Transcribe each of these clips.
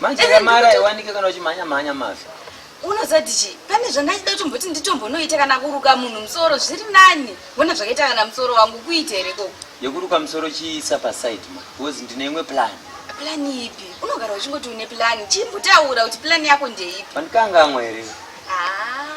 manje eh, kamara iwanike kana uchimhanya mhanya mafi unozoti chii pane zvandachida kuti mboti nditombonoita kana kuruka munhu musoro zviri nani wona zvakaita kana musoro wangu kuita here koko yekuruka musoro chiisa paside ma bcause ndine imwe plan plan ipi unogara uchingoti une plan chimbotaura kuti plan yako ndeipi pandikangamwa here ah.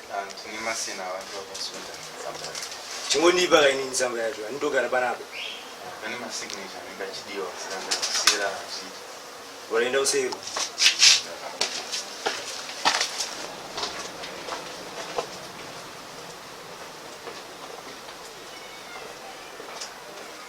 chingondipa kaini nzamba yacho anindogara panapa waraenda useiko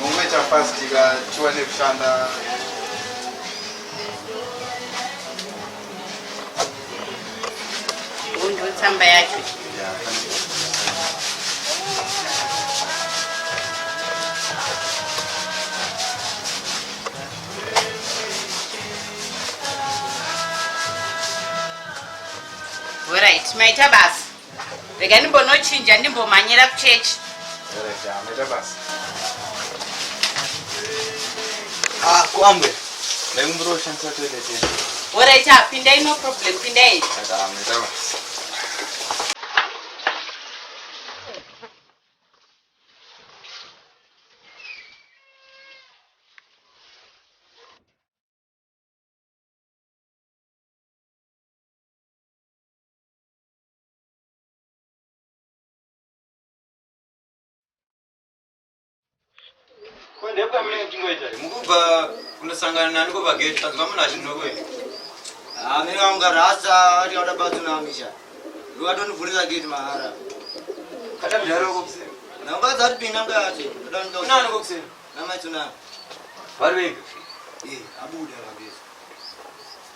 Mungoita fast ka tiwane kushanda. Undo tsamba yacho. Alright, maita basa. rega ndimbonochinja ndimbomhanyira kuchechi ah, kwambe ndaikumbira kushandisa toilet orit ah, pindai no problem pindai ndepamene chingoita mukubva kundosangana nani kopageti tanzwa munhu achinokoe amene vaunga rasa ati auda batsunamisha ndokatondivhurira geti mahara namukadzi atipinda mukati namaitsunami vari vega abuda pageti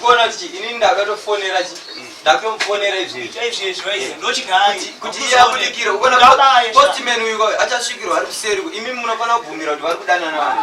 kuona kuti ini ndakatofonera ndakatomufonera izvezvikuti iye abudikire kuona postman uyu achasvikirwa ari kuseri imi munofanira kubvumira kuti vari kudanana vanhu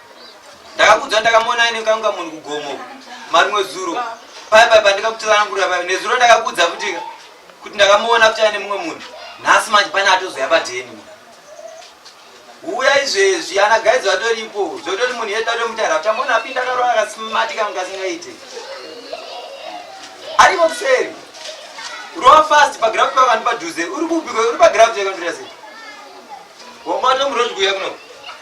ndakakudza ndakamuona aine kanga munhu kugomo marimwe zuro paya paya pandikakutsanangurira paya nezuro ndakakudza kuti kuti ndakamuona kuti aine mumwe munhu nhasi manje pane atozoya padheni uya izvezvi ana gaizi vatoripo zvotori munhu yedu atomutara uchamuona apinda karo akasimatika mungasingaite aripo kuseri rova fast pagraft pakandipadhuze uri kubiko uri pagraft yakandira sei wamatomurozi kuya kuno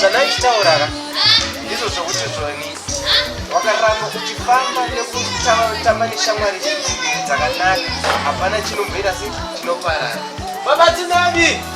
zvandaichitaurara ndizvo zvokuti zvoni wakaramba uchifamba nekutamba neshamwari dzakanaka hapana chinomboita se chinoparara babatinani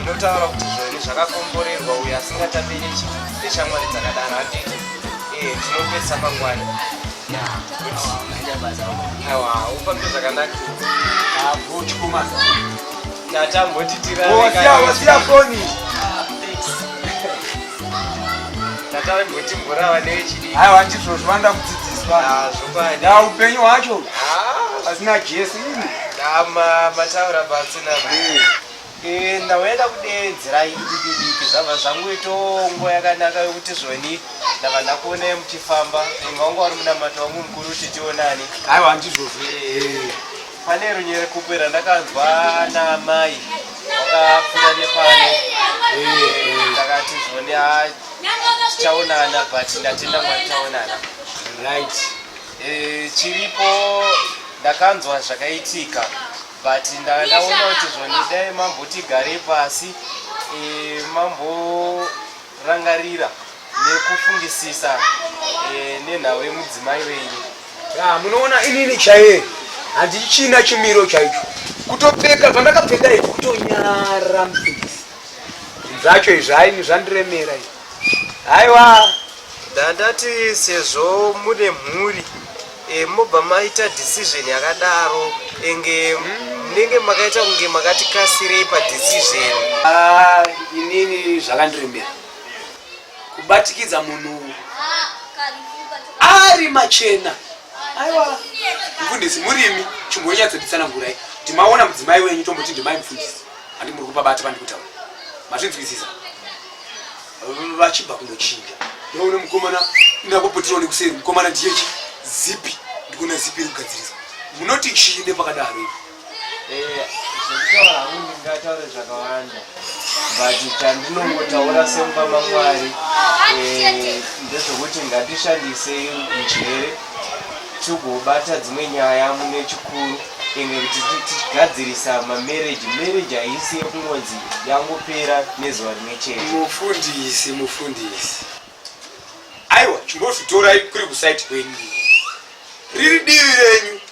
inotaura kuti zvoiri zvakakomborerwa uyo asingatape ichi ndeshamwari dzakadaro handiti ee eh, tinopesa mangwani ufambe zvakanaka tatambotitiraasiya foni tatambotimborava newechidii aiwa ndizvo zvivanda kudzidziswa zvokwadi upenyu hwacho pasina ah. jesu ini mataura basa Eh, ndawenda kudeedzera idikidiki zvabva zvangu itongo yakanaka yokuti zvoni ndava ndakuonai muchifamba inga wanga wari munamato wangu mukuru kuti tionani aiwa ndizvozvo eh, pane runyere kupe randakanzwa naamai wakapfuura nepano eh, ndakati zvoni achaonana but ndatenda mwari taonana right chiripo ndakanzwa zvakaitika but ndanga ndaona kuti zvoni dai mambotigare pasi e, mamborangarira nekufungisisa e, nenhau yemudzimai wenyu ya munoona inini chaiye handichina chimiro chaicho kutopfeka zvandakapfeka izvi kutonyara mufundisi zvacho izvi haini zvandiremera izvi Haiwa ndandati sezvo mune mhuri e, mobva maita decision yakadaro enge munenge makaita kunge makati kasirei padecision. Ah, inini zvakandirembera kubatikidza munhu ari machena aiwa mfundisi murimi chimbonyatsebisana ngurai ndimaona mudzimai wenyu tomboti ndimai mfundisi handi muri kupa bati vandikutaura mazvinzwisisa vachibva kunochinja ndoone mukomana ndakopotirawo nekuseri mukomana ndiyechi zipi ndikuona zipi iri kugadziriswa munoti chii nepakadaro ivi eh, zvekutaura hangu ndingataure zvakawanda but chandinongotaura semba mamwari eh, ndezvekuti ngatishandisei njere togobata dzimwe nyaya mune chikuru ende kuti tichigadzirisa mamereji mereji haisi yekungonzi yangopera nezuva rimwe chete mufundisi mufundisi aiwa chimbozvitorai kuri kusaiti kwenyu riri divi renyu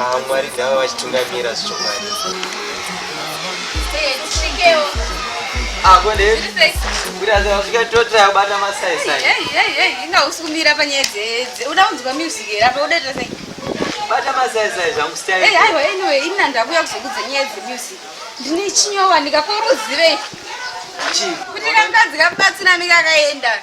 Ah, mwari ndava vachitungamira zvichokwadi akondeaikatota kubata masaisainga usikumira panyaya dzedze uda kunzwa music here apa udaita sei bata masaisai zvangu staiaiwa anyway ina ndakuya kuzokudza nyaya dzemusic ndine chinyowa ndikakoruzive kuti kangadzikabatsira mikakaenda